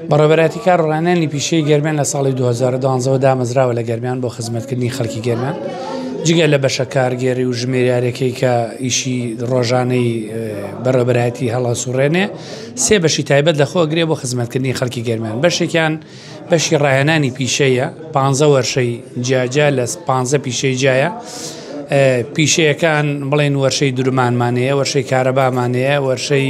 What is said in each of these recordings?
بەڕێوەبەرایەتی کار و ڕانانی پیشەی گەرمیان لە ساڵی 2012ەوە دامەزراوە لە گەرمیان بۆ خزمەتکردنی خەڵکی گەرمیان جگە لە بەشە کارگێری و ژمێریارەکەی کە ئیشی ڕۆژانەی بەڕێوەبەرایەتی هەڵە سوڕێنێ سێ بەشی تایبەت لە خۆگرێ بۆ خزمەتکردنی خەڵکی گەرمیان بەشێکیان بەشی ڕایەنانی پیشەیە پ وەرشەی جیاجیا لە پ پیشەی جیایە پیشەکان بڵێن وەرشەی درمانمانەیە وەرشەی کارەبامانەیە وەرشەی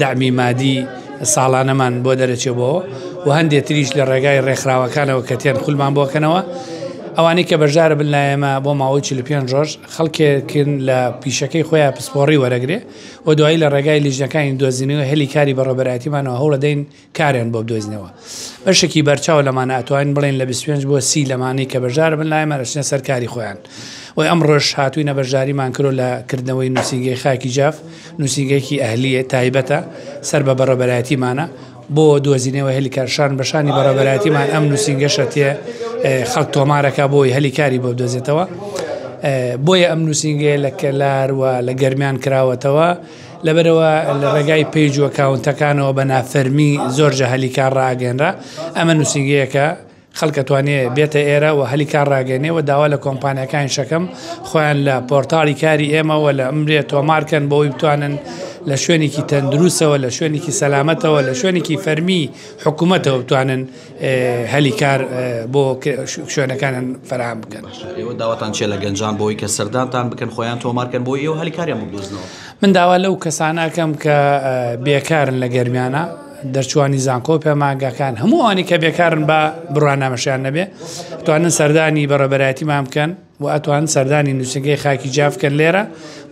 دەعمی مادی ساڵانەمان بۆ دەرەچێ بۆ و هەندێ تریش لە ڕێگای ڕێکخراوەکانەوە کە تێن خولمان بۆکەنەوە ئەوانەی کە بەشدارە بن لایەمە بۆ ماوەی 45 ڕۆژ خەڵکێکن لە پیشەکەی خۆیان پسپۆڕی وەرەگرێ و دوایی لە ڕێگای لیژنەکانی دۆزینەوە هەلی کاری بەڕێوەبەرایەتیمانەوە هەوڵەدەین کاریان بۆ بدۆزنەوە بەشێکی بەرچاو لەمانە ئەتوانین بڵێن لە 25 بۆ سی لەمانەی کە بەشدار بن لایمان ئەچنە سەر کاری خۆیان وی ئەمڕۆش هاتووینە بەشداریمان کرۆ لە کردنەوەی نووسینگەی خاکی جاف نووسینگەیەکی ئەهلیە تایبەتە سەر بە بەڕێبەرایەتیمانە بۆ دۆزینەوە هەلی کارشان بەشانی بەڕێبەرایەتیمان ئەم نووسینگەشە تێ خەڵک تۆمارەکە بۆی هەلی کاری بۆ بدۆزێتەوە بۆیە ئەم نووسینگەیە لە کەلار و لە گەرمیان کراوەتەوە لەبەرئەوە لە ڕێگای پەیج و ئەکاونتەکانەوە بە نافەرمی زۆر جا هەلی کار ڕائەگەنرا، ئەمە نوسینگەیەکە خەڵک ئەتوانێ بێتە ئێرە و هەلی کار ڕاگەنێ و داوا لە کۆمپانیاکانی شەکەم خۆیان لە پۆرتاڵی کاری ئێمە و لە ئەمرێ تۆمار کەن بۆ ئەوەی بتوانن لە شوێنێکی تەندروسەوە لە شوێنێکی سەلامەتەوە لە شوێنێکی فەرمی حکومەتەوە بتوانن هەلی کار بۆ شوێنەکانیان فەرام بکەن ئێوە داواتان چێ لە گەنجان بۆی کە سەردانتان بکەن خۆیان تۆمارکەن بۆ ئێوە هەلی کاریان بدۆزنەوە من داوا لەو کەسانەکەم کە بێکارن لە گەرمیانە دەرچوانی زانکۆ پێماگەکان هەمووانی کە بێکارن بە بڕوانامەشیان نەبێ توانن سەردانی بەڕێبەرایەتیمان بکەن و ئەتوان سەردانی نووسینگەی خاکی جاف بکەن لێرە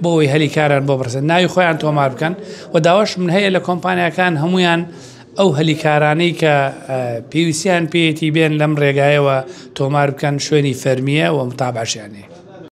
بۆ ئەوەی هەلی کاران بۆ بڕسن ناوی خۆیان تۆمار بکەن و داواش من هەیە لە کۆمپانیاکان هەمویان ئەو هەلیکارانەی کە پێویستیان پێیەتی بێن لەم ڕێگایەوە تۆمار بکەن شوێنی فەرمیە و متابعشیانەیە.